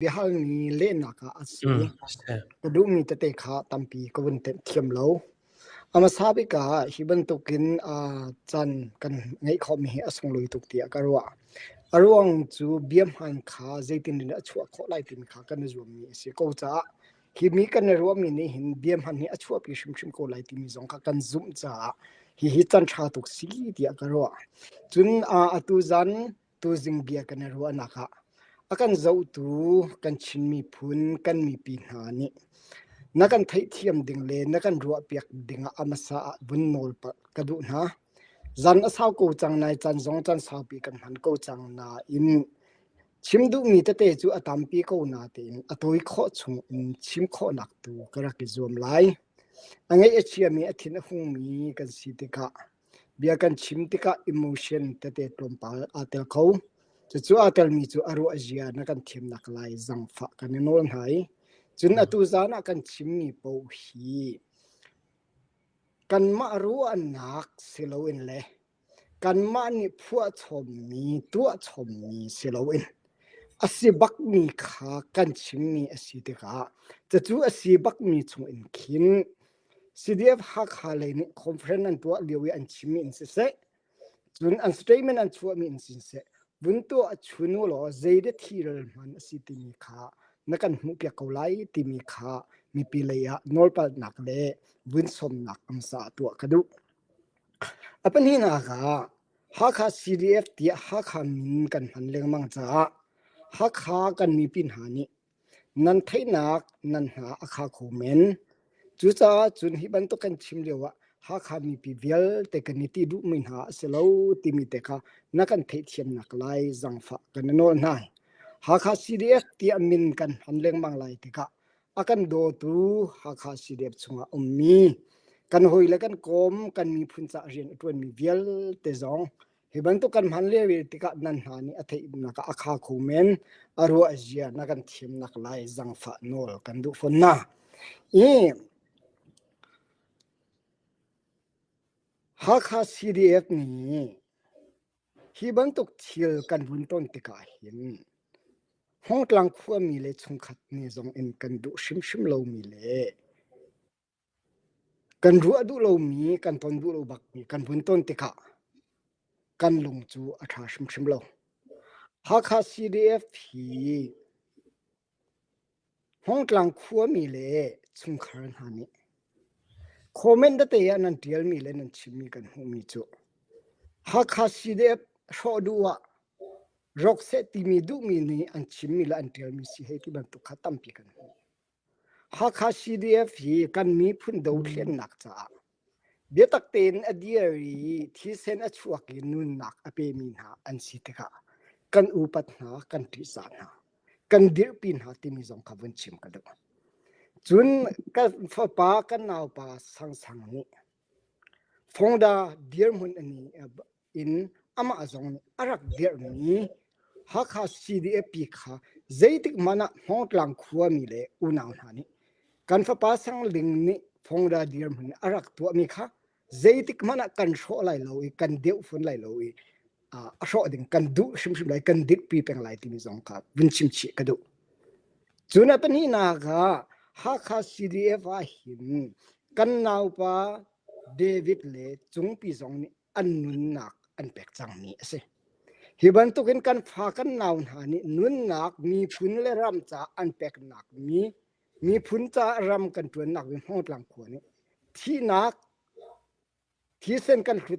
biahalmi lehnak ah a si. Mm, ka duhmi tete kha tampi ka vun thiam lo. A hmasa bik ah hi bantukin uh, can kan ngei khawmi hi a sunglawi tuk tiah ka ruah. A ruang cu biam han kha zeitin in a chuah khawh lai tin kha kan i zuammi a si ko caah hi mi kan i ruahmi nih hin biam han hi a chuahpi hrimhrim ko lai timi zong kha kan zumh caah hi hi can tha tuk si tiah ka ruah. Cun uh, atu zan tuzing bia kan i ruahnak ah a kan zohtu kan Chin miphun kan mipi hna nih na kan theihthiam ding le na kan ruahpiak ding ah a hmasa ah vun nawl ka duh hna zan a sau ko cang nai chan zong chan saupi kan hman ko cang na in chim duhmi tete cu a tampi ko na tein a toi kho chung in chim kho nak tu ka rak i zuam lai a ngei a chiami a thin a hungmi kan si tikah Bia kan chim tikah emotion tete tlawmpal aa tel kho. Cucu aa telmi cu a ruah zia na kan thiamnak lai zangfah kan i nawl hna i cun atu zan ah kan chimmi paoh hi kanmah ruahnak si loin le kanmah nih phuahchawmmi tuahchawmmi si loin a si bakmi kha kan chimmi a si tikah cucu a si bakmi chungin khin CDF-Hakha lei nih conference an tuah lio i an chimmi in siseh, cun an statement an chuahmi in siseh, vun tuah a chunu law zeide thilral hman a si timi kha na kan hmuhpiak ko lai timi kha mipi lei ah nawlpalhnak le vunsomnak amsa ah tuah ka duh. A pahnihnak ah Hakha CDF tiah Hakha min kan hman lengmang caah Hakha kan mipi hna nih Nan theihnak nan hna a kha kho men. Cucaah cun hi bantuk kan chim lioah Hakha mipi vialte kan i ti duhmi hna a si lo timi te kha na kan theihthiamnak lai zangfah kan i nawl hna. Hakha CDF tiah min kan hman lengmang lai tikah a kan dawtu Hakha CDF chungah a ummi kan hawile kan kawm kan miphun cah rian a ṭuanmi vialte zong Hi bantuk kan hman lio tikah nan hna nih a theihnak a kha khu men a ruah zia na kan thimnak lai zangfah nawl kan duh fon na i Hakha CDF nih hi bantuk thil kan vun ton tikah hin Hongtlang khuami le chungkhat ni zong in kan duh hrimhrim lomi le Kan ruah duh lomi, kan ton duh lo bakmi kan vun ton tikah kan lung cu a ṭha hrimhrim lo. Hakha CDF hi Hmawngtlang khuami le chungkhar hna nih comment tete ah nan ṭialmi le nan chimmi kan hmuhmi cu Hakha CDF hrawh duh ah rawk seh timi duhmi nih an chimmi le an ṭialmi si hei ti bantuk kha tampi kan hmu. Hakha CDF hi kan miphun dothlennak caah biatak tein a dir i thisen a chuak i nunnak a pemi hna an si tikah kan upat hna, kan ṭihsah hna, kan dirhpi hna timi zong kha vun chim ka duh. Cun kan fapa, kan naupa Sang Sang nih Fongda dirhmun a ni in amah zong nih a rak dirhmi Hakha CDF kha zeitik hmanh ah Hmawngtlang khuami le unau hna nih kan fapa Sangling nih Phongra dirhmun a rak tuahmi kha zeitik hmanh ah kan hrawh lai lo i kan deuh fun lai lo i uh, a hrawh ding kan duh hrimhrim lai kan dirhpi peng lai timi zong kha vun chimchih ka duh. Cun a pahnih ah Hakha CDF ah hin kan naupa David le Cungpi zong nih an nunnak an pek cangmi a si. Hi bantukin kan fa kan nau hna nih nunnak miphun le ram caah an peknak mi miphun caah ram kan ṭuannak hi Hmawngtlang khua nih thihnak thisen kan hlut